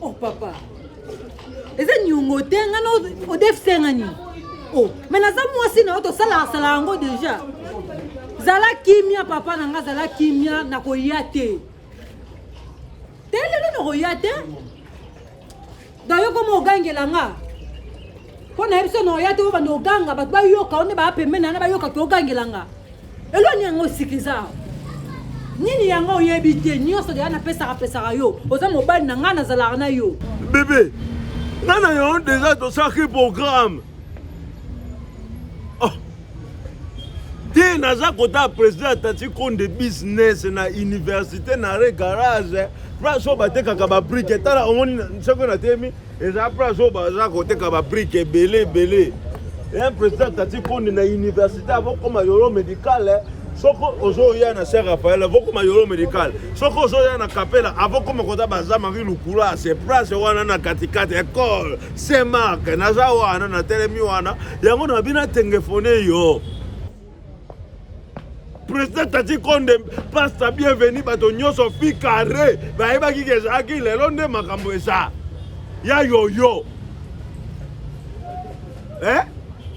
Oh papa, eza nyongo te nga na odefisa nga nini oh me naza mwasi na yo tosalasala yango deja zala kimia papa na nga zala kimia nakoya te te lelo nakoya te donc yo koma ogangela nga mpo na yebiso na oya te oyo bana oganga bato bayoka o nde baa pembeni na na bayoka ke ogangela nga eloni yango osikiza awa nini yango oyebi te nyonso deya napesaka pesaka yo oza mobali na ngai nazalaka na yo bebe ngai na yango deja tosalaki programme te naza kotala président ya tati konde business na université na re garage place oyo batekaka babrike tala omoni soki natemi eza place oyo baza koteka babrike ebele ebele ya président tati konde na université avokoma yolo médicale eh. soki ozoya na ser rafael avokoma yolo médicale soki ozoya na kapela avokoma kota baza marie lukula se place wana na katikati ecole Saint Marc naza wana natelemi wana yango na bino atengefone yo président tati konde pasta bienvenu bato nyonso fi carré bayebaki ke ezalaki lelo nde makambo eza ya yoyo eh?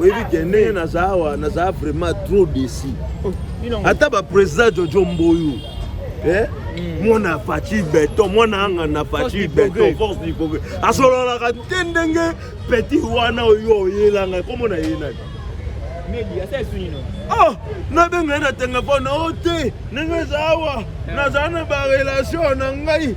oyebi ke ndenge naza awa naza vraiment trop desi ata baprésident jojo mboyo eh? hmm. mwana faci beton mwana anga na faci beton force du progrès asololaka te ndenge petit wana oyo oyelanga komona ye nani oh nabenga ye na telefone o oh, te ndenge eza awa eh. nazala na barelation na ngai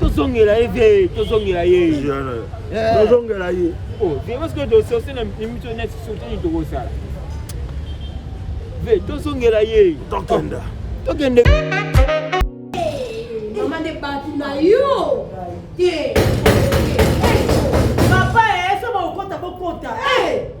tozongela ye vie tozongela ye tozongela ye parceke dososi na mito neti sotini tokosala vie tozongela ye tokenda tokende mama nde bato na yo te papa eso eh, bakokota bokota eh!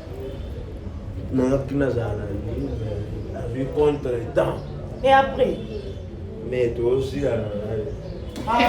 nayaki nazala na nini nazwi contre temps et après mais tosilana naye ah,